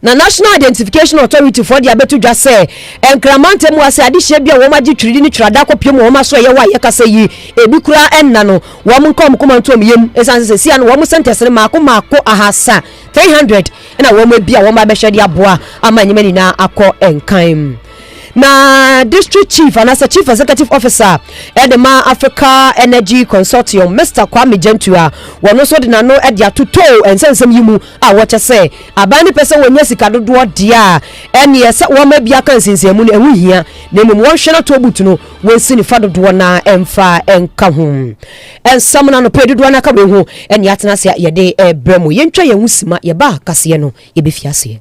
Na National Identification Authority foɔ de abɛto dwa sɛ Nkrama ntamu ase adehyeɛ bi a wɔn agye twerɛdi ne twerɛada akɔpie mu wɔn aso ɛyɛ hɔ a yɛka sɛ yi ebi koraa nna no wɔn nka wɔn koma nto wɔn yam ɛsiane sɛ sɛsia no wɔn centers no maako maako ahasa 300 na wɔn abia wɔn abɛhwɛ de aboa ama nneɛma nyinaa akɔ nkan. Na District Chief anaasɛ Chief Executive Officer de ma Africa Energy Consortium, Mister Kwame Gyentu a wɔno nso de n'ano de ato tow nsɛnsɛm yi mu a wɔkyɛ sɛ aban no pɛ sɛ wɔnya sika dodoɔ deɛ a ɛneɛ sɛ wɔma bi aka nsensanmu no ɛho hia na mmom wɔnhwɛ na toll booth no wɔnsi no fa dodoɔ no ara ɛmfa ɛnka ho nsɛm no anɔpɛ dodoɔ no aka wei ho ɛne atena ase a yɛde ɛbrɛ mu yɛntwa yɛn ho sima yɛba kaseɛ no yɛbɛfi aseɛ.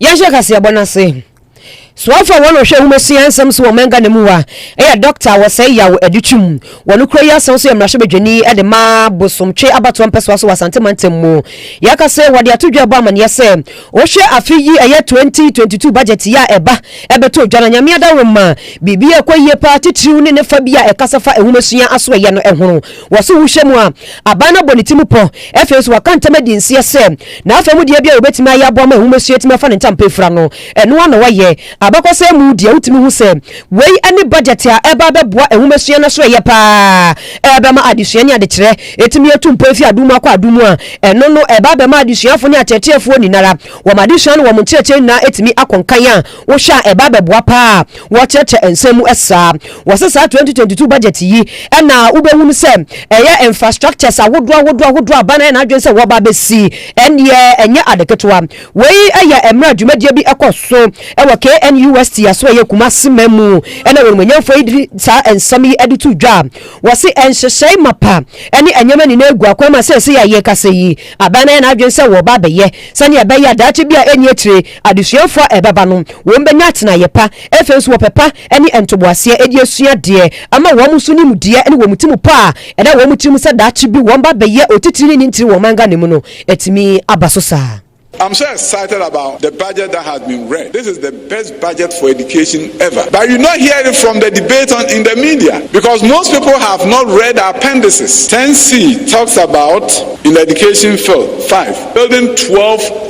Yɛnhyɛ kaseɛbɔ no ase. Soafo a wɔn ɔhwɛ nhomasua nsɛm so wɔ ɔman Ghana mu a ɛyɛ Dɔkta a wɔsɛe yaw de twam wɔ no kura yi asan so yɛ mmarahyɛbadwani de ma Bosomtwe abatoɔ mpɛsoa so wɔ Asante mantam mu. Yɛka sɛ wɔde ato dwa ɛbɔ amaneɛ sɛ wohwɛ afe yi ɛyɛ 2022 budget yi a ɛba ɛbɛtɔ dwa na Nyame adaworo ma biribi ɛkɔ yie paa titiriw ne ne fa bi a ɛkasa fa nhomasua asoɛyɛ no ɛhono Wɔse wohyɛ mu a, aban no abɔ ne ti mu pɔ. Afei nso waka ntam adi nseɛ sɛ n'afa mu deɛ biara a wɔbɛtumi ayɛ aboa ma nwomasua atumi afa ne ntampa afira no, ɛno ara na wɔayɛ. Abakɔsɛm mu deɛ wotumi hu sɛ wei ne budget a ɛreba abɛboa nwomasua no so yɛ pa ara, ɛbɛma adesua ne adekyerɛ atumi atu mpɔn afi adum mu akɔ adum mu a ɛno no ɛba abɛma adesuafoɔ ne akyerɛkyerɛfoɔ nyinara wɔn adesua ne wɔn nkyerɛkyerɛ nyinaa atumi akɔ nkan a Wohwɛ a ɛba bɛboa paa a wɔkyerɛkyerɛ nsɛm mu saa. Wɔse saa twenty twenty two budget yi na wobɛhunu sɛ ɛyɛ infrastructures ahodoɔ ahodoɔ ahodoɔ a ban ayɛ n'adwene sɛ wɔba abɛsi. Ɛnneɛ ɛnyɛ ade ketewa. Wei yɛ mmerɛ a dwumadie bi kɔ so wɔ KNUST aso a ɛyɛ Kumasi man mu na wɔn manyɛnfoɔ yi de saa nsɛm yi de to dwa. Wɔse nhyehyɛe mapa ne nneɛma nyinaa gu akwan mu a seesei a yɛkasa yi aban ayɛ n'adwene sɛ wɔba abɛyɛ sɛdeɛ ɛbɛyɛ a daakye bi a ɛnni akyire Adesuafoɔ a ɛbɛba no, wɔn bɛnya atenaeɛ pa, afei nso wɔpɛ pa ne ntoboaseɛ ɛde asua adeɛ, ama wɔn nso nimdeɛ ne wɔn timu pa a ɛda wɔn tirim sɛ daakye bi wɔn ba bɛyɛ otitirini ne ntiri wɔ ɔman Ghana mu no atumi aba so saa. I'm so excited about the budget that has been read. This is the best budget for education ever. But you not hear it from the debate on in the media because most people have not read the appendices. 10C talks about in the education field 5 building 12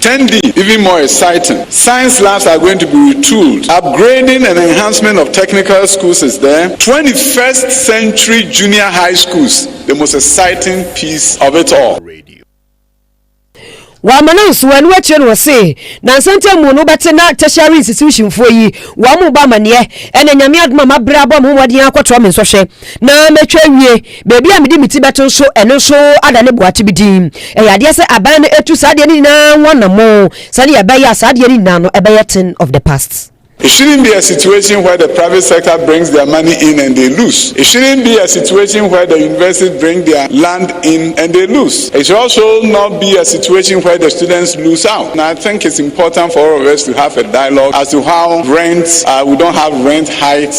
Ten D, even more exciting, science labs are going to be retooled, upgrading and enhancement of technical schools is there, twenty first century junior high schools, the most exciting piece of it all. Wɔ amena nso wɔ ɛno akyire no wɔse nansa ntam mu no wobɛte na tertiary institution foɔ yi wɔn rebɔ amaneɛ ɛna Nyame adom a mabrɛ abɔ me ho mmɔden akɔtoa me nsɔhwɛ na matwa awie. Baabi a mede me ti bɛto nso, ɛno nso ada ne boate bi din. Ɛyɛ adeɛ sɛ aban no atu saa adeɛ no nyinaa ho anammɔn sɛdeɛ ɛbɛyɛ a saa adeɛ no nyinaa no ɛbɛyɛ thing of the past. It shouldn't be a situation where the private sector brings their money in and they lose. It shouldn't be a situation where the universities bring their land in and they lose. It should also not be a situation where the students lose out. And I think it's important for all of us to have a dialogue as to how rents, uh, we don't have rent hikes.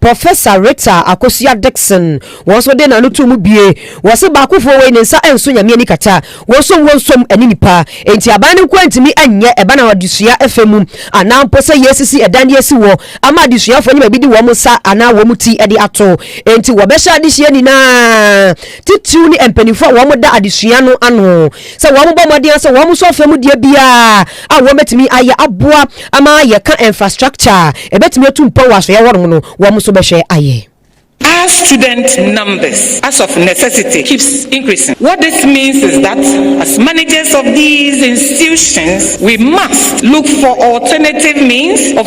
Professor Rita Akosua Dickson wɔn nso de n'ano too mu bue. Wɔse baakofoɔ wei ne nsa nso Nyame ani kata. Wɔnsom wɔnsom ɛne nipa. Enti aban no nko ara ntumi nyɛ ɛban a adesua fa mu anaa mpo sɛ yɛresisi ɛdan de asi hɔ ama adesuafoɔ anya baabi de wɔn nsa anaa wɔn ti de ato. Enti wɔbɛhyɛ adehyeɛ nyinaa titiriw ne mpaninfoɔ a wɔda adesua no ano sɛ wɔbɔ mmɔden ara sɛ wɔn nso afɛ mu deɛ biara a wɔbɛtumi ayɛ aboa ama yɛka infrastructure a ɛbɛtumi atu mpɔn wɔ asoeɛ hɔ nom no, wɔn nso bɛhwɛ ayɛ. As student numbers as of necessity keeps increasing, what this means is that as managers of these institutions we must look for alternative means of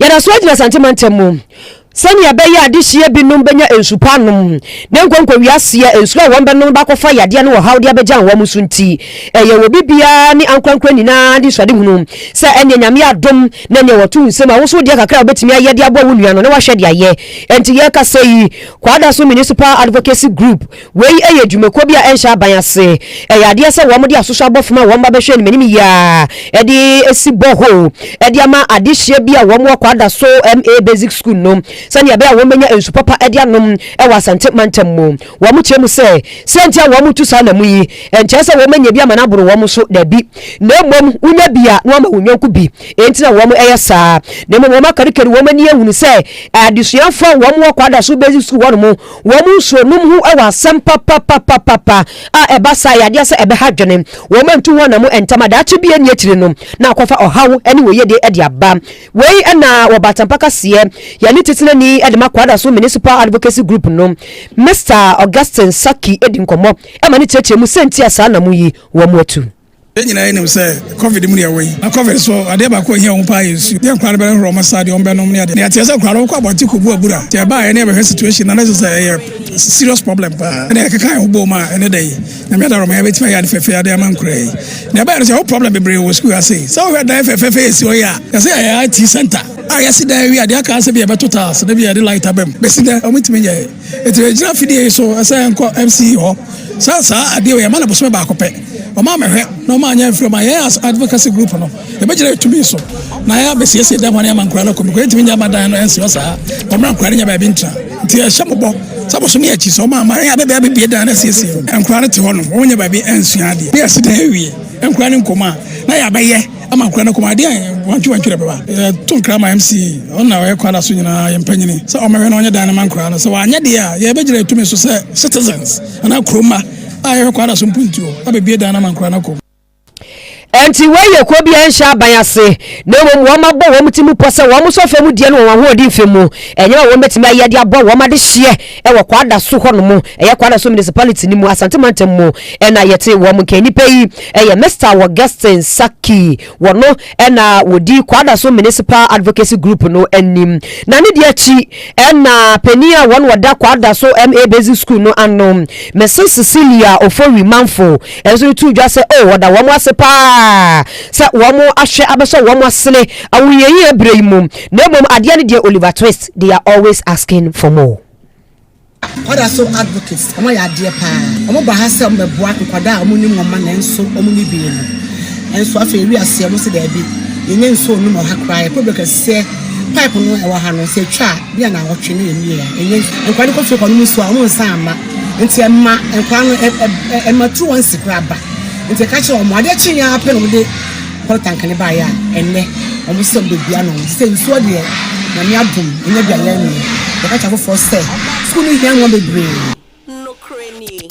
Yɛda so agyina Asante mantam mu sɛnea ɛbɛyɛ a adehyeɛ binom bɛnya nsu pa anom na nkonko wiaseɛ nsu a wɔn bɛnom bakɔfa yadeɛ ne ɔhaw de abɛgyan wɔn so nti ɛyɛ wɔ bi biara ne ankorankora nyinaa anisoadehunu sɛ ɛneɛ Nyame adom na ɛneɛ wɔto wo nsam a wo nso wodeɛ kakra a wobɛtumi ayɛ de aboa wo nua no na wahwɛ de ayɛ. Ɛnti yɛkasa yi, Kwadaso Municipal Advocacy Group Wei yɛ dwumakuo bi a ɛnhyɛ aban ase. Ɛyɛ adeɛ sɛ wɔde asoso abɔfo ma wɔn mma bɛhwɛ anim anim yie ara de si bore hole de ama adehyeɛ bi a wɔwɔ Kwadaso MA Basic School no sɛdeɛ ɛbɛyɛ a wɔbɛnya nsu papa de anom wɔ Asante mantam mu. Wɔkyerɛ mu sɛ, sɛ nti a wɔtu saa nam yi, ɛnkyerɛ sɛ wɔanya bi ama no aboro wɔn so, dabi, na mmom wonya bi a na wɔama wɔn yɔnko bi nti na wɔyɛ saa. Na mmom wɔakarikari wɔn ani ahunu sɛ adesuafoɔ a wɔwɔ Kwadaso Basic School hɔnom Wɔn nsuo nom ho wɔ asɛm papapapapa a ɛba saa yɛ adeɛ sɛ ɛbɛha adwene. Wɔn antu ho anamo ntɛm a daakye bi ɛnni akyire no na akɔfa ɔhaw ne wɔyedie de aba. Wei na wɔ Batampa kaseɛ yɛn ne Titenani de ma Kwadaso Municipal Advocacy Group no Mister Augustine Sackey di nkɔmmɔ ma no kyerɛkyerɛ mu sɛ nti a saa anamo yi wɔn atu. Yɛn nyinaa nim sɛ covid mu ne yɛwɔ yi, na covid so adeɛ baako a ɛhia wɔn paa yɛ nsuo. Deɛ nkwadaa no bɛhoro wɔn asa, deɛ wɔbɛnom ne adeɛ. Deɛ yɛteɛ sɛ nkwadaa no wɔkɔ abɔnten kɔbu abura. Nti ɛbaa yɛne yɛbɛhwɛ situation no na ɛsɛ sɛ ɛyɛ serious problem paa. Ɛna yɛkeka yɛn ho boom a ɛne da yi Nyame adara ma yɛbɛtumi ayɛ ade fɛfɛ ade ama nkuraa yi. Na ɛbaa yɛ no sɛ yɛwɔ problem bebree wɔ sukuu ase. Sɛ wohwɛ dan fɛfɛɛfɛ yɛsi hɔ yi a, yɛsɛ yɛyɛ IT center a yɛasi dan awie a deɛ aka sɛ bi yɛbɛto tiles na bi yɛde light abam. Bɛsi dɛ wɔntumi nyɛɛ. Enti ɛgyina fidie yi so sɛ ɛnkɔ MCE hɔ sɛ saa adeɛ wei ɛma no bosome baako pɛ. Wɔn a mɛhwɛ na wɔn anyɛ mfiri ma yɛn as advocacy group no yɛbɛgyina yɛn tumi so na yɛabɛsiesie dɛm hɔ no ama nkwadaa no akɔ mu. Nkwadaa ntumi nyɛ mma dan no nsi hɔ saa. Wɔn mma nkwadaa no nyɛ baabi ntra. Nti ɛhyɛ mo bɔ sɛ bosome akyi sɛ wɔn a mma yɛn abɛbɛ abɛbie dan no asiesie. Nkwadaa no te hɔ nom wɔn nyɛ baabi nsua adeɛ na yɛasi dan awie nkwadaa no nkɔ mu a na yɛabɛyɛ. Ama nkora no kɔm adeɛ a wantwe wantwerɛ bɛba. Yɛto nkra ma MC, ɔno na ɔyɛ kwan da so nyinaa yɛn mpanyini sɛ ɔmmɛhwɛ na ɔnyɛ dan no ma nkora no. Sɛ wanyɛ deɛ a, yɛbɛgyina yɛtumi so sɛ citizens anaa kurom mma a yɛhwɛ kwan da so mpuntuo abɛbie dan no ama nkora no kɔm. Ɛnti wei yɛ kuo biara nhyɛ aban ase na mmom wɔn abɔ wɔn ti mu pɔ sɛ wɔn sɔ fam deɛ no wɔ wɔn ahoɔden fam mu, ɛnyɛ ma wɔn bɛtumi ayɛ de abɔ wɔn adehyeɛ. Ɛwɔ Kwadaso hɔ nom, ɛyɛ Kwadaso Municipality no mu, Asante Mantam mu na yɛte wɔn. Nkannipa yi yɛ Mister Wogestyn Saki, wɔno na wɔdi Kwadaso Municipal Advocacy Group no anim. Na ne deɛ akyi na panin a wɔn wɔda Kwadaso MA Basic School no ano, Mrs Cecilia Ofori Mamfo nso no too dwa sɛ oh wɔda wɔn ase paa sɛ wɔn ahwɛ abɛsɔ wɔn asene awunyɛnyɛ berɛ yi mu. Na mmom adeɛ ne deɛ Oliver Twist they are always asking for more. Ɔda so advocates ɔmo ayɛ adeɛ paa ɔmo ba ha sɛ ɔmo bɛ boa nkwadaa a ɔmo nni wɔn mma nanso ɔmo nni bee mu nso afei wiase ɔmo se daabi yɛn nyɛ nsuo nnom wɔ ha koraa yɛ problem kɛseɛ pipe no ɛwɔ ha no sɛ etwa a bi a na awɔtwe na yɛ mie a ɛnyɛ nkwadaa no kɔ fie kɔ nom nsuo a ɔmo nsa ama nti ɛma nkwadaa no ɛma turu wɔn si koraa ba nti ɛka kyerɛ ɔmo adeɛ kye yɛn apɛ na ɔmo de Kɔ tank ne baeɛ a ɛnɛ wɔn sɛ wɔbɛbia no sɛ nsuo deɛ nyame adom ɛnyɛ deɛ yɛn no yɛka kyɛ afoforɔ sɛ sukuu no hia mmoa bebree. Nokorɛ nie.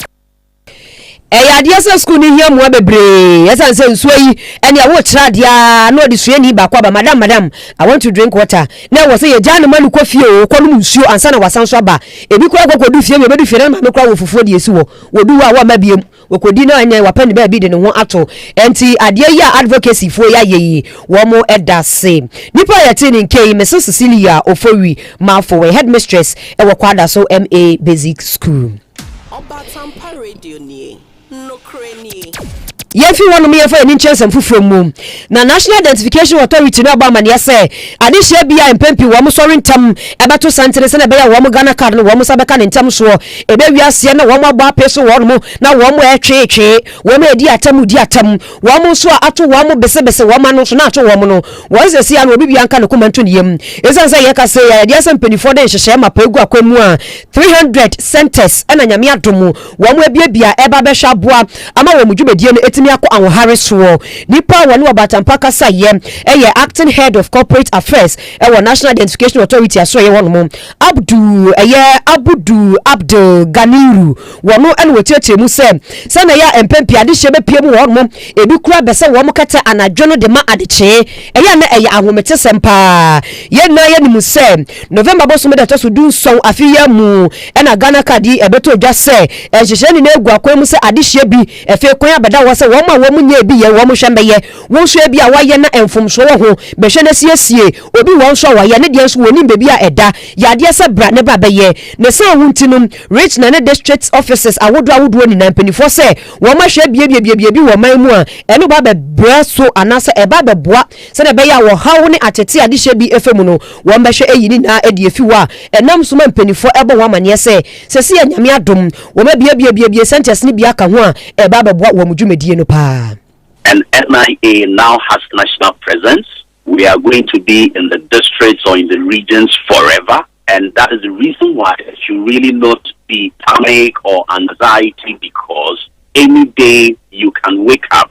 Ɛyɛ adeɛ sɛ sukuu no hia mmoa bebree ɛsiane sɛ nsuo yi ɛne a wokyerɛ adeɛ a na wɔde suani baako aba madam madam I want to drink water na ɛwɔ sɛ yɛgyaa no ma no kɔ fie oo kɔnom nsuo ansa na wasan nso aba ebi koraa kɔ kɔdu fie wei bɛdu fie na ne maame koraa wɔ fufuo deɛ ɛsi hɔ wɔdu hɔ a wɔmma biom Wakɔdi na ɛnɛ wapɛ ne baabi de ne ho ato. Ɛnti adeɛ yi a advocacy foɔ yi ayɛ yi, wɔn da se. Nipa a yɛtee ne nka yi, Mrs Cecilia Ofori Marfo, ɔyɛ Headmistress wɔ Kwada so MA Basic School. Ɔbatampa Radio nie, nokore nie. Yɛmfi hɔnom yɛmfa yɛn ani nkyerɛ nsɛm foforɔ mu. Na National Identification Authority no abɔ amanneɛ sɛ, adehyeɛ bi a mpɛn pii wɔn sɔre ntɛm bɛto santene sɛdeɛ ɛbɛyɛ a wɔn Ghana card no wɔn nsa bɛka no ntɛm soɔ, ɛbɛwie aseɛ na wɔn abɔ apee so wɔnom na wɔn retweetwee, wɔn redi atɛm redi atɛm, wɔn nso a ato wɔn besebese wɔn ano nso na ato wɔn no, wɔn seesei ano obibiara nka ne koma nto ne yam. Ɛsiane sɛ yɛka sei a, yɛde asɛ mpaninfoɔ de nhyehyɛɛ mapa agu akwan mu a, 300 centres na Nyame adom Wɔabuebue a ɛreba abɛhwɛ aboa ama wɔn dwumadie no atumi akɔ ahoɔhare soɔ. Nipa a wɔne ɔbaatampɔ kasaeɛ yɛ Acting Head of Corporate Affairs wɔ National Identification Authority asoɛeɛ hɔ nom, Abdul ɛyɛ Abudu Abdul Ganiru. Wɔno na wɔkyerɛkyerɛ mu sɛ sɛdeɛ ɛyɛ a mpɛn pii adehyeɛ bɛpue mu wɔ hɔ nom, ebi koraa bɛ sɛ wɔn kɛtɛ anadwo no de ma adekyee. Ɛyɛ a na ɛyɛ ahometesɛm paa. Yɛn nyinaa yɛnim sɛ November bosome da ɛtɔ so du nson afe yi ara mu, Ɛna Ghana card yi ɛbɛtɔ dwa sɛ nhyehyɛɛ nyinaa agu akwan mu sɛ adehyeɛ bi. Ɛfei kwan abɛda hɔ sɛ wɔn a wɔn nyɛɛ bi yɛ wɔn hwɛ mmɛyɛ. Wo nso ebi a wayɛ na mfomsoɔ wɔ ho, bɛhwɛ na siesie. Obi wɔ nso a wayɛ, ne deɛ nso wɔnnim baabi a ɛda. Yɛ adeɛ sɛ bra ne ba bɛyɛ. Ne saa ho nti no, Rich na ne district offices ahodoɔ ahodoɔ nyinaa mpaninfoɔ sɛ wɔn ahwɛ biabiabiabia bi wɔ man mu a ɛno ba bɛbrɛ so anaasɛ ɛba bɛboa sɛdeɛ ɛbɛyɛ a ɔhaw ne atete a adehyeɛ bi fa mu no Wɔbɛhwɛ eyi nyinaa adi afi hɔ a, ɛnam so ma mpanyimfo bɔ ho amanneɛ sɛ, seesei a Nyame adom, wɔabuebuebue sɛnkyerɛse no bi aka ho a, ɛreba abɛboa wɔn dwumadie no paa. And NIA now has national presence, we are going to be in the districts or in the regions forever and that is the reason why there should really not be panic or anxiety because any day you can wake up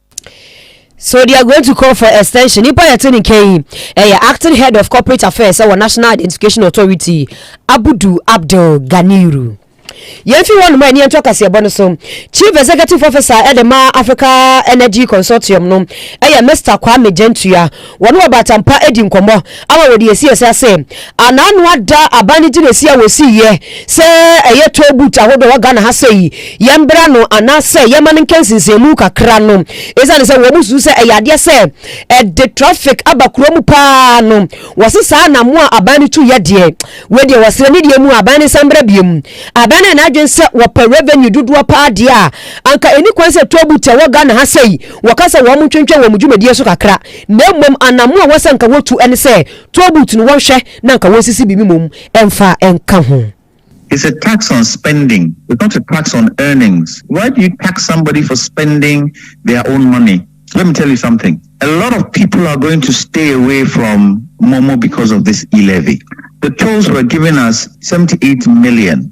So they are going to call for extension? Nipa yɛte ne nka yi ɛyɛ acting head of corporate affairs ɛwɔ National Identification Authority Abudu Abdul Ganiru. yɛmfi hɔ nom a ɛne yɛnto akaseɛbɔ no so chief executive officer ɛde ma africa energy consortium no ɛyɛ mr kwame gyantua Wɔne ɔbaatan pa adi nkɔmmɔ ama wɔadi asi ase ase. Anano ada aban ne gyinaesi a wɔsiiɛ sɛ ɛyɛ toll booth ahodoɔ wɔ Ghana ha sɛ yi yɛmbra no anaasɛ yɛma no nkɛ nsensɛnmu kakra no ɛsiane sɛ wɔn susu sɛ ɛyɛ adeɛ sɛ ɛde traffic aba kuro mu pa ara no wɔse saa anamo a aban no tuiɛ deɛ wei deɛ wɔsrɛ ne deɛ mu a aban no nsa mbra biom. Aban no yɛ n'adwene sɛ wɔpɛ revenue dodoɔ pa ara deɛ a anka ɛni kwan sɛ toll booth ɛwɔ Ghana ha sɛ yi Wɔka sɛ wɔntwentwɛn wɔn dwumadie so kakra, na mmom anammo a ɛwɔ sɛ anka wɔtu ne sɛ toll booth no wɔnhwɛ na anka wɔnsisi biribi mmom mfa nka ho. It's a tax on spending, it's not a tax on earnings, why do you tax somebody for spending their own money? Let me tell you something, a lot of people are going to stay away from Momo because of this e-levy. The tolls were giving us 78 million.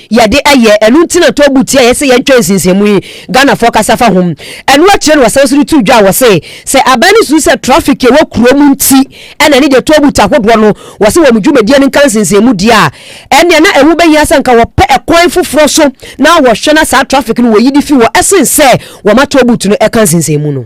yɛde ɛyɛ, ɛno nti na tɔɔbu ti a yɛse yɛntwa nsinsiamu yi Ghanafoɔ kasa fa ho. Ɛno akyire na wɔsan so de too dwa a wɔse sɛ aban no susu sɛ traffic a ɛwɔ kuro mu nti na ɛne deɛ tɔɔbu ti ahodoɔ no wɔse wɔn dwumadie no nka nsinsiamu deɛ a ɛneɛ na ɛho bɛhia sɛ nka wɔpɛ ɛkwan foforɔ so na wɔhwɛ na saa traffic no wɔyi de fi hɔ ɛsen sɛ wɔma tɔɔbu ti no ɛka nsinsiamu no.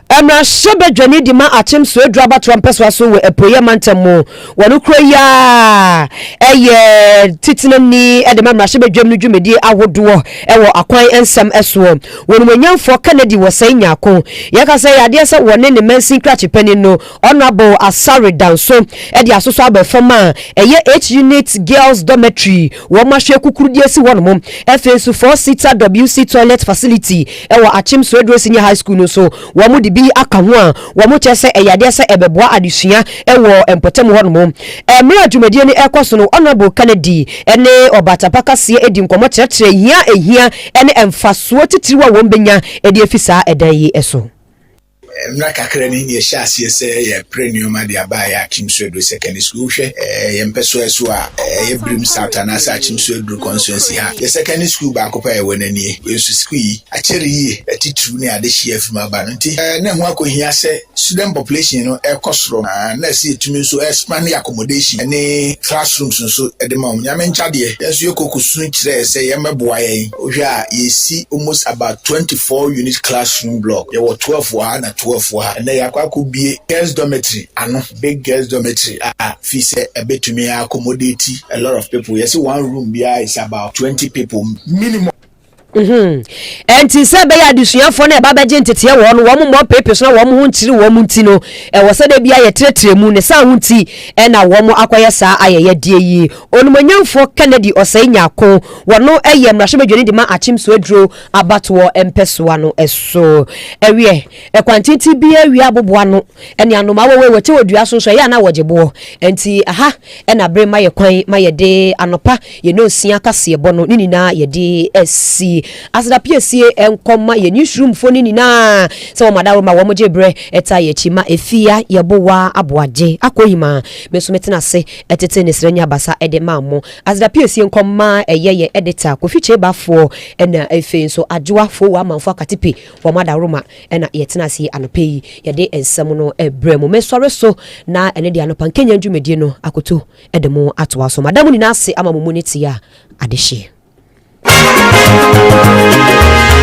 Mmarahyɛbadwani no de ma Akyem Swedru abatoɔ mpɛsoa so wɔ Apueeɛ Mantam mu wɔ no kuro yi ara yɛ Titenani de ma mmarahyɛbadwam no dwumadie ahodoɔ wɔ akwan nsɛm soɔ. Wɔn Animuonyamfoɔ Kennedy Wɔsɛe Nyarko, yɛka sɛ ɛyɛ adeɛ sɛ wɔne ne mansin krakye panin no Honourable Asare Danso de asosɔ aba fam a ɛyɛ H unit girls dormitory wɔn ahwɛ kukurudie si hɔ nom. Afei nso four seater WC toilet facility wɔ Akyem Soedro Senior High School no nso wɔn de bi aka ho a wɔn kyerɛ sɛ ɛyɛ adeɛ sɛ ɛbɛboa adesua wɔ mpɔtam hɔ nom. Mmerɛ a dwumadie no ɛrekɔ so no Honourable Kennedy ne Ɔbaatapa Kaseɛ di nkɔmmɔ kyerɛkyerɛ hia a ɛhia ne mfasoɔ titiriw a wɔn bɛnya de afi saa ɛdan yi so. Mmra kakra ni na yɛhyɛ aseɛ sɛ yɛrepere nneɛma de aba yɛn Akim so aduro secondary school. Wohwɛ yɛn mpɛsoa so a, ɛyɛ Birim South anaasɛ Akim so aduro constituency ha. Yɛn secondary school baako pɛ a yɛwɔ no nie. Wei nso sukuu yi akyɛre yie, atitiriw ne adehyeɛ afi mu aba no nti, na ɛho akɔhia sɛ student population no rekɔ soro na na ɛsɛ yɛtumi nso expand yɛn accommodation ne classrooms nso de ma wɔn. Nyame nkyɛdeɛ, yɛn nso yɛkɔ kɔsu kyerɛɛ sɛ yɛmmɛboa yɛn. Wohwɛ a, yɛresi almost about twenty four unit classroom block, yɛwɔ twelve wɔ ha na twelve wɔ ha. Ɛnnɛ yɛakɔ akɔbue girls dormitory ano, big girls dormitory a fii sɛ ɛbɛtumi a accommodate a lot of people. Yɛse one room biara is about twenty people minimum. Ɛnti sɛ ɛbɛyɛ a adesuafoɔ no a ɛba bɛgye nteteɛ wɔ hɔ no, wɔn mmɔ mpeepe so na wɔn ho nkyere wɔn nti no, ɛwɔ sɛ da biara yɛtrɛtrɛ mu. Ne saa ho nti na wɔakɔyɛ saa ayɛyɛdeɛ yi. Onumonyamfoɔ Kennedy Osei Nyarko, wɔno yɛ mmarahyɛbadwani de ma Akyemso aduro abatoɔ mpɛsoa no so. Ɛweɛ, ɛkwan tenten bi awia aboboa ano ne anomaa wɔ wɔ yi wɔte wɔ dua so nso ɛyɛ a na wɔgye boɔ. Ɛnti aha ɛna bere ma yɛ kwan ma yɛde anɔpa yɛ nonsia kaseɛbɔ no ne nyinaa yɛde asi. Aseda piesie nkɔ ma yɛ newsroom foɔ no nyinaa sɛ wɔn adaworo ma wɔn gye berɛ ɛtaa yɛ akyi ma ɛfia yɛ bowa aboagye akɔ yi ma me nso me tena ase Ɛtete ne srɛ nya basa de maa mo. Aseda pie sie nkɔm ma ɛyɛ yɛ editor Kofi Kyeba foɔ na ɛfei nso Adwoa foɔ wɔ amanfoɔ Akatepe wɔn adaworoma na yɛtena ase yi anɔpa yi yɛde nsɛm no brɛ mo. Me sɔre so na ɛne deɛ anɔpa nkenyan dwumadie no akoto de mo atoa so. Mada mo nyinaa ase ama mo mu ne teɛ a adehyeɛ.